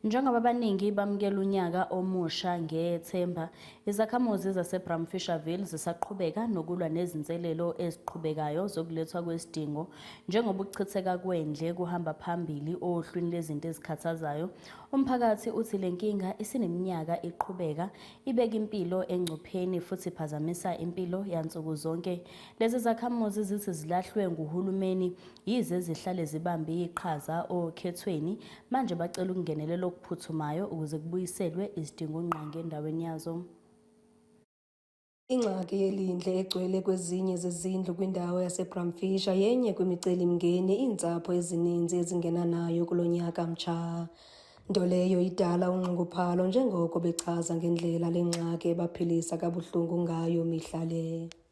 Njengoba abaningi bamukela unyaka omusha ngethemba, izakhamuzi zaseBramfisherville zisaqhubeka nokulwa nezinselelo eziqhubekayo zokulethwa kwesidingo njengoba ukuchitheka kwendle kuhamba phambili ohlwini lezinto ezikhathazayo. Umphakathi uthi le nkinga isineminyaka iqhubeka ibeka impilo engcupheni futhi iphazamisa impilo yansuku zonke. Lezi zakhamuzi zithi zilahlwe nguhulumeni yize zihlale zibambe iqhaza okhethweni Manje bacela ukungenelela okuphuthumayo ukuze kubuyiselwe izidingongqangi endaweni yazo. Ingxaki yelindle egcwele kwezinye zezindlu kwindawo yaseBramfisher yenye kwimicelimngeni iintsapho ezininzi ezingena nayo kulo nyaka mtsha, nto leyo idala unxunguphalo njengoko bechaza ngendlela le ngxaki ebaphilisa kabuhlungu ngayo mihla le.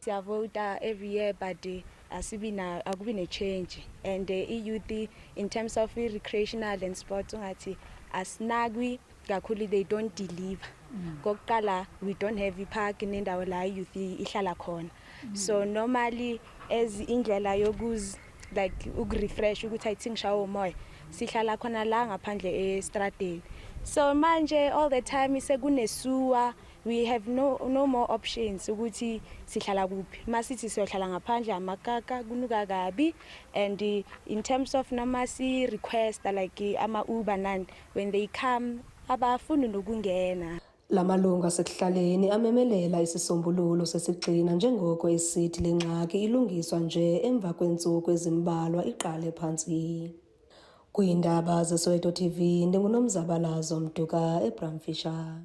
siyavota every year but eh, asibi na akubi ne change and eh, i youth in terms of i recreational and sports ungathi asinakwi kakhulu they don't deliver mm. kokuqala we don't have i park nendawo la youth ihlala khona mm. so normally as indlela yokuz like ukurefresh ukuthi i think shawo moya sihlala khona la ngaphandle estradeni so manje all the time sekunesuwa we have no, no more options ukuthi sihlala kuphi masithi siyohlala ngaphandle amakaka kunuka kabi and eh, in terms of noma si request like eh, ama uber nani when they come abafuni nokungena Lamalungu asekuhlaleni amemelela isisombululo sesigcina njengoko esithi le ngxaki ilungiswa nje emva kweentsuku ezimbalwa iqale phantsi. Kwiindaba zeSoweto TV ndinguNomzabalazo Mduka eBramfisher.